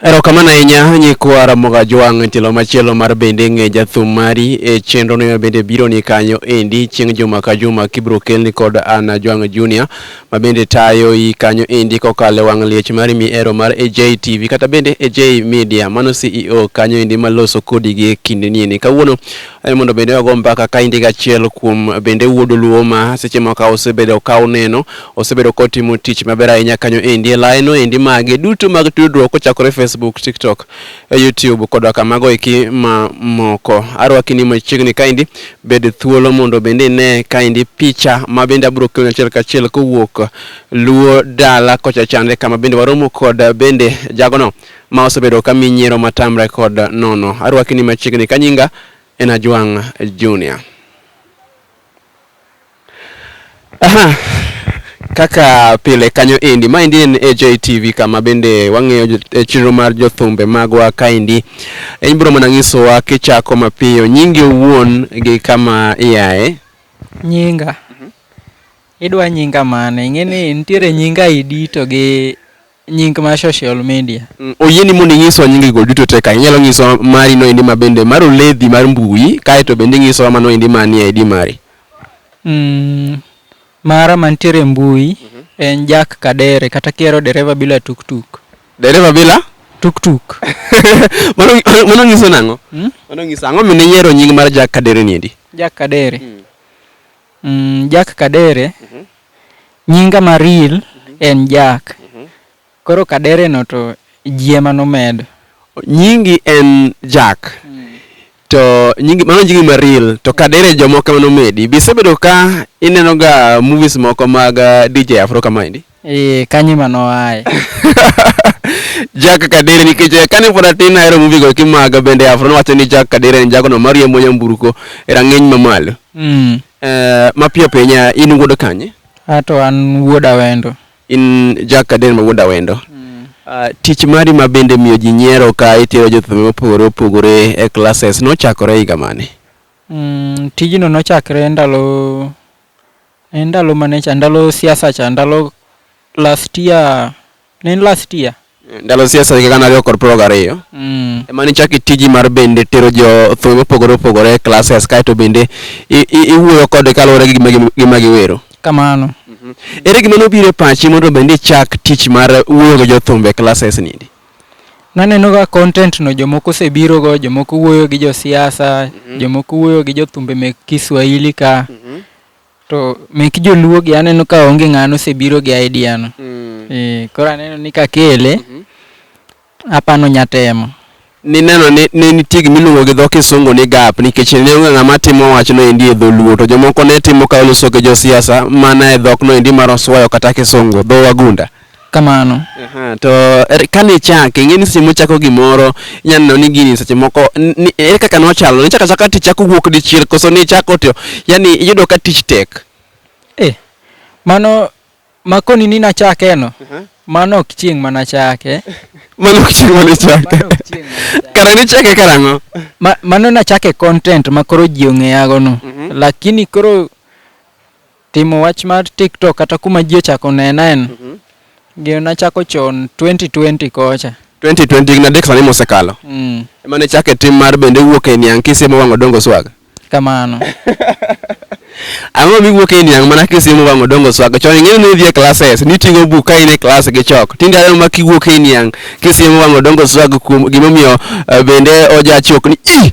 Erokamano ahinya nyikwa Ramoga Jwang' tielo machielo mar bende ng'e jathum mari e chenro ni bende biro ni kanyo endi chieng' juma ka juma kibro kelni kod Anna Jwang' Junior ma bende tayo i kanyo endi kokale wang' liech mari mi ero mar AJ TV kata bende AJ Media mano CEO kanyo endi maloso kodi gi kinde ni endi kawuono eh, mondo bende wago mbaka ka indi gachiel kuom bende wuod Luo ma seche moko osebedo ka uneno Osebedo kotimo tich maber ahinya kanyo endi e laeno endi mage duto mag tudruok kochakore Facebook, TikTok, eh, YouTube koda kamago eki ma moko. Arwaki ni machiegni kaendi bed thuolo mondo bende ine kaendi picha ma bende abiro keloni achiel kachiel kowuok Luo dala kocha chande kama bende waromo kod bende jagono ma osebedo ka mi nyiero matamre kod nono. Arwaki ni machiegni kanyinga en Ajwang' Junior. Aha, kaka pile kanyo endi maendi en AJ TV kama bende wang'iyo jo- e chenro mar jothumbe magwa kaendi en biro mana nyisowa kichako mapiyo nyingi owuon gi kama iaye nyinga idwa nyinga mane ing'e ni nitiere nyinga idi to gi Nying ma social media. Mm, oyieni mondo inyiso nyingi go duto te ka inyalo nyiso mari no endi mabende mar oledhi mar mbui kae to bende inyiso mano endi manie ID mari. Mm, mara mantiere mbui mm -hmm. en Jack Kadere kata kiero dereva bila tuktuk. Dereva bila tuktuk. mano mano nyiso nango? Hmm? Mano nyiso ango mine yiero nying mar Jack Kadere ni endi? Jack Kadere. Mm. Mm, Jack Kadere. Mhm. Nyinga ma real mhm. en Jack. Mhm. Koro Kadere no to jiema nomedo. Nyingi en Jack. Mm. To nyingi mano nyingi ma real to Kadere jomoko mano medi. Bisebedo ka ineno ga movies moko mag uh, DJ Afro kama indi? Eh, kanye ma noaye? Jack Kadere nikech eh, kane pod atin ahero movie go kimaga bende Afro nowacho ni Jack Kadere en jagono mariembo nyamburko e rang'iny mamalo. Mm. Eh, mapiyo piyo nya in wuod kanye? Ato an wuod Awendo. In Jack Kadere ma wuod Awendo. Mm. Uh, tich mari ma bende miyo ji nyiero ka itero jothum mopogore opogore e classes nochakore higa mane? Mm, tijno nochakre ndalo Ne en ndalo mane cha, ndalo siasa cha, ndalo last year, ne en last year. Ndalo siasa higa gana ariyo kod piero gariyo. Mm. Ema ne ichako itiji mar bende tero jo thum mopogore opogore e classes kaeto bende i- i- iwuoyo kode kaluwore gi gima gi- gima giwero. Kamano. Ere gima nobiro e pachi mondo bende ichak tich mar wuoyo gi jothumbe e classes nindi? Naneno ga content no jomoko osebiro go, jomoko wuoyo gi josiasa, jomoko wuoyo gi jothumbe mek Kiswahili ka. To mek joluo gi aneno ka onge ng'ano osebiro gi idea no. Eh, koro aneno ni kakele apano nyatemo. Nineno ni ne nitie gima iluongo gi dho kisungu ni gap nikech ne onge ng'ama timo wachno endi e dholuo to jomoko ne timo ka oloso gi josiasa mana e dhokno endi mar oswayo kata kisungu, dho wagunda. kamano. Aha, to er, kane ichake ing'e ni seche mochako gimoro inyalo neno ni gini seche moko n- ni- ere kaka nochalo nichaka chaka tichako wuok dichiel koso nichako to yani iyudo ka tich tek Eh, mano makoni ni nachakeno mano ok chieng' manachake mano ok chieng' mane ichake Mano ok chieng' manachake. kara nichake karang'o Ma- mano nachake content ma koro ji ong'eyagono Mhm. lakini koro Timo wach mar TikTok kata kuma ji ochako nena en mhm. gino nachako chon 2020 kocha. 2020 higni adek sani mosekalo. Mm. Ema ne chake tim mar bende wuok e niang' kisiemo wang'o dongo swag. Kamano. Ang'o miwuok e niang' mana kisiemo wang'o dongo swag. Chon ing'eyo ni idhi e classes, niting'o buk ka in e class gi chok. Tinde aneno ma kiwuok e niang' kisiemo wang'o dongo swag kuom gimomiyo eh, bende ojachok ni ih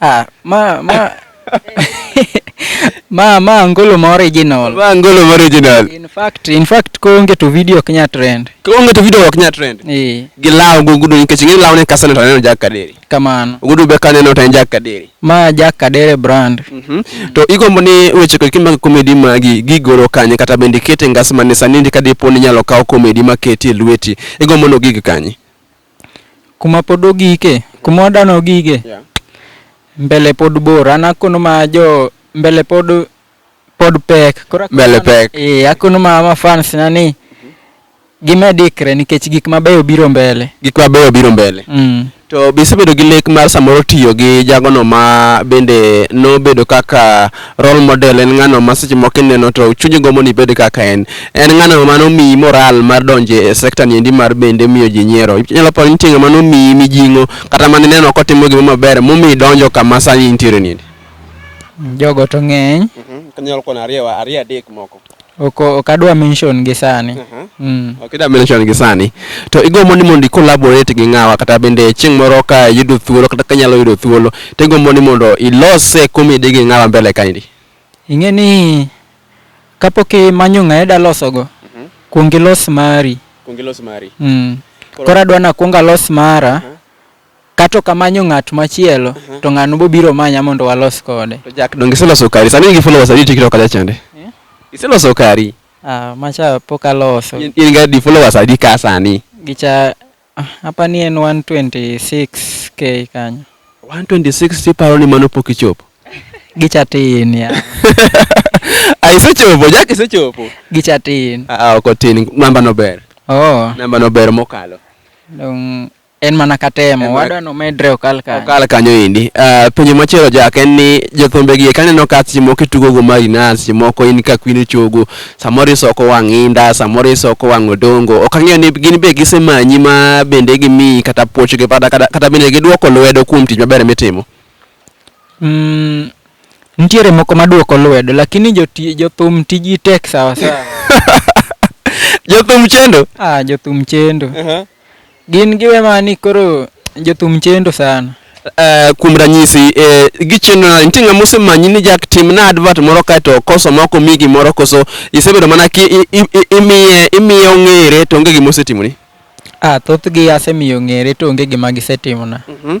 Ah, ma ma ma ma angolo ma original. Ma angolo ma original. In fact, in fact ko onge to video ok nya trend. Ko onge to video ok nya trend. Eh. Gi lawo go gudu nikech ng'e lawo ne kasane to aneno Jack Kaderi. Kamano. Gudu be kaneno to en Jack Kaderi. Ma Jack Kaderi brand. Mm -hmm. To igombo ni weche kod kimag comedy magi gigoro kanye kata bende kete ngas mane sani ndi kadipo ni nyalo kawo comedy maketi e lweti. Igombo no gig kanye. Kuma pod ogike, kuma wadano ogike, Yeah. mbele pod bor. An akono ma jo mbele pod pod pek. Koro akono Mbele ma- pek. Eh, akono ma ma fans na ni gimed ikre nikech gik mabeyo biro mbele. Gik mabeyo biro mbele. Mm. To be isebedo gi lek mar samoro tiyo gi jagono ma bende nobedo kaka Role model en ng'ano ma seche moko kineno to chunyi gombo ni ibed kaka en. En ng'ano ma nomiyi moral mar donjo e sector ni endi mar bende miyo ji nyiero. Inyalo paro ni nitie ng'ama nomiyi mijing'o kata ma nineno kotimo gimoro maber momiyo idonjo kama sani intiere ni endi. Jogo to ng'eny. Kanyalo kwano ariyo ariyo adek moko. Ok ok adwa mention gi sani. Mm. Ok idwa mention gi sani. To igombo ni mondo i collaborate gi ng'awa kata bende chieng' moro ka iyudo thuolo kata ka inyalo yudo thuolo to igombo ni mondo ilos eh, comedy gi ng'awa mbele kaendi? Ing'e ni kapok imanyo ng'a ida losogo, kuong ilos mari. Kuong ilos mari. Mm. Koro adwa ni akuong alos mara. Ka to ok amanyo ng'at machielo, to ng'ano bobiro manya mondo walos kode? To Jack donge iseloso kari? Sani in gi followers adi e TikTok kacha chande? Iseloso kari? Ah, macha pok aloso. In, in ga di followers adi ka sani? Gicha apa ni en 126k kanyo. 126 tiparo ni mano pok ichopo? Gicha tin ya. Ah, isechopo, Jack isechopo. Gicha tin. Ah, ah, ok otin, namba no ber. Oh, Namba no ber mokalo. dong En mana katemo, En mana- wadwa nomedre okal kanyo. okal kanyo endi Ah, penjo machielo jak en ni jothumbe gi kaneno ka seche moko itugo go marinas seche moko in ka kwin ichogo samoro isoko wang' inda samoro isoko wang' odongo ok ang'eyo ni gin be gisemanyi ma bende gimiyi kata puoch gi kata, kata, kata bende giduoko lwedo kuom tich maber mitimo Mm, nitiere moko maduoko lwedo lakini joti- jothum tiji tek sawasawa. jothum chendo Ah, jothum chendo. Gin giwe mani koro jothum chendo sana. Uh, kuom ranyisi eh, gichendo nade nitie ng'ama osemanyi ni jak timna advert moro kaeto koso ma ok omi gimoro koso isebedo mana ki imiye imiye ong'ere to onge gima osetimoni ah thothgi asemiyo ong'ere to onge gima gisetimona mm -hmm.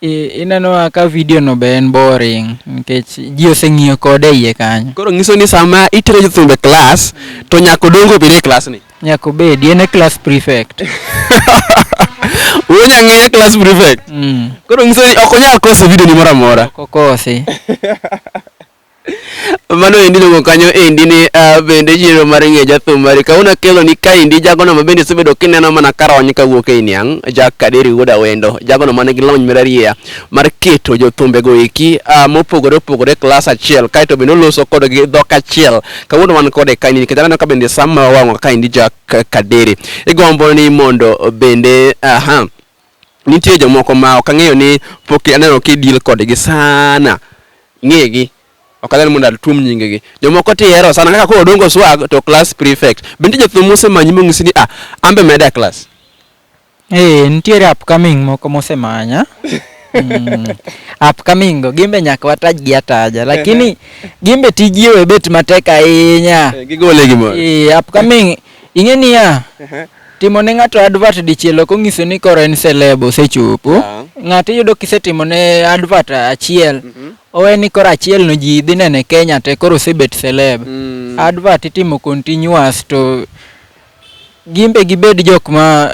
ineno ka video no be en boring nikech ji oseng'iyo kode e iye kanyo. Koro nyiso ni sama itero nyithindo e klas to nyako dongo bed e klas ni. Nyako bedi en e class prefect. Wuo nyang'eye class prefect. Mm. Koro nyiso ni ok onyal koso video ni moro amora. Kokosi. Mano endi iluongo kanyo endi ni ah, bende yiero mar ng'e jathum mari kawuono akelo ni kaendi jagono ma bende isebedo kineno mana karony kawuok ei niang' Jack Kaderi wuod Awendo jagono man gi lony mararieya mar keto jothumbego eki ah, mopogore opogore klas achiel kaeto bende oloso kodgi dhok achiel kawuono wan kode kaendi nikech aneno ka bende sama wawang'o kaendi Jack Kaderi igombo ni mondo bende aha nitie jomoko ma ok ang'eyo ni pok aneno ki deal kodgi sana. Ng'egi. Ok adwar mondo atuom nyingegi. Jomoko tihero sana kaka koro Odongo Swag to class prefect. Be nitie jathum mosemanyi monyisi ni ah, an be meda class? Ee, nitiere upcoming moko mosemanya. Mm. Upcoming go gimbe nyaka watajgi ataja lakini gimbe tijgi we bet matek ahinya. Eh, gigole gimoro. Ee, upcoming ing'e niya, Timo ne ng'ato advert dichiel ok ong'iso ni koro en celeb osechopo. Ah. Ng'ato iyudo kisetimo ne advert achiel, mhm. owe ni koro achiel no ji dhi nene Kenya te koro osebet celeb. Mm. Advert itimo continuous to gimbe gibed jok ma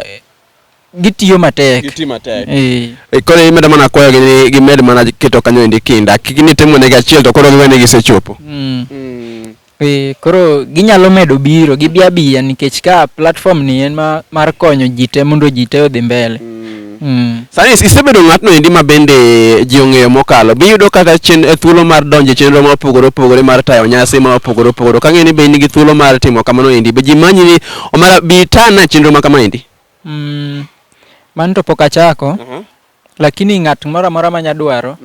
gitiyo matek gitiyo matek eh. eh koro imedo mana kwayo gi ni gimed mana keto kanyo endi kinda kik ni timo ne achiel to koro giwene gisechopo mm. mm. Ee, koro ginyalo medo biro, gibi abiya nikech ka platform ni en ma, mar konyo ji te mondo ji te odhi mbele. Mm. Mm. Sani is- isebedo ng'atno endi ma bende ji ong'eyo mokalo. Be iyudo kata chen, eh, thuolo mar donjo e chenro ma opogore opogore mar tayo nyasi ma opogore opogore. Ok ang'e ni be in gi thuolo mar timo kamano endi. Be ji manyi ni omara bi tana e chenro ma kama endi? Mm. Mano to pok achako. Lakini ng'at moro amora ma nya dwaro,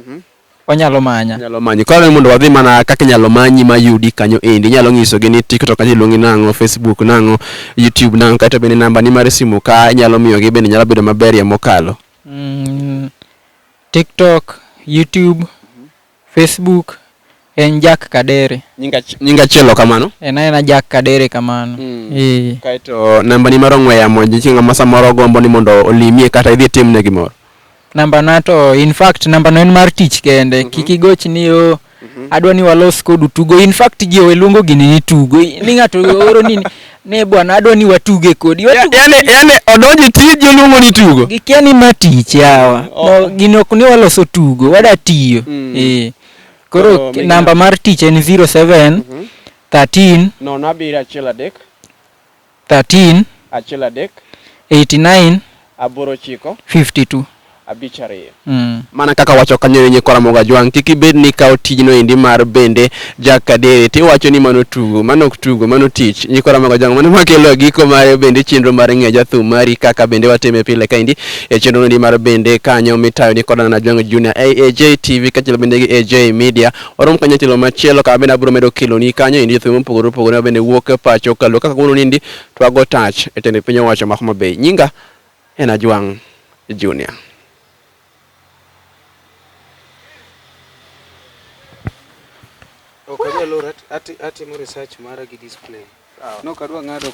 onyalo manya. Nyalo manyi. Koro ni mondo wadhi mana kaka inyalo manyi ma yudi kanyo endi. Inyalo ng'isogi ni TikTok kanyo iluongi nang'o, Facebook nang'o, YouTube nang'o. Kaeto bende namba ni mar simu ka inyalo miyogi bende nyalo bedo maberie mokalo. Mm, TikTok, YouTube, Facebook en Jack Kadere. Nyinga nyinga chielo kamano. En aena Jack Kadere kamano. Mm. Eh. Kaito namba ni maro ngwe yamo ji chinga masa moro gombo ni mondo olimie kata idhi tim ne gimoro. Namba na to in fact namba no en mar tich kende. Mm -hmm. Kiki goch ni o oh, mm -hmm. adwa ni walos kodu tugo. In fact ji owe luongo gini ni tugo. Ni ngato oro ni Ne bwana adwa ni watuge kodi. Ya- Watuge Yaani yaani odonji tiji oluongo ni tugo. gikia ni ma tich yawa. Oh. No, gini ok ni waloso tugo, wada tiyo. Mm. Eh. Koro Koro migina- namba mar tich en 07 13 Nono abiriyo achiel adek 13 achiel adek 89 Aboro ochiko. 52. Abich ariyo. Mm. Mana kaka wacho kanyo ni nyikwa Ramogo Ajwang', kik ibed ni ikawo tijno endi mar bende Jack Kadere to iwacho ni mano tugo, mano ok tugo, mano tich. Nyikwa Ramogo Ajwang' mano ema kelo giko mar bende chenro mar ng'eyo jathum mari kaka bende watime pile kaendi e chenro endi mar bende kanyo mitayo ni kod Anna Ajwang' Junior e AJ TV kaachiel bende gi AJ Media. Warom kanyo tielo machielo kama bende abiro medo keloni kanyo endi jothum mopogore opogore ma bende wuok e pacho kaluwo kaka kawuono ni endi Twago tach e tend piny owacho ma Homa Bay. Nyinga en Ajwang' Junior. Ok anyal or, atimo research mara gi discipline. Sawa. Nok adwa ng'ado ka.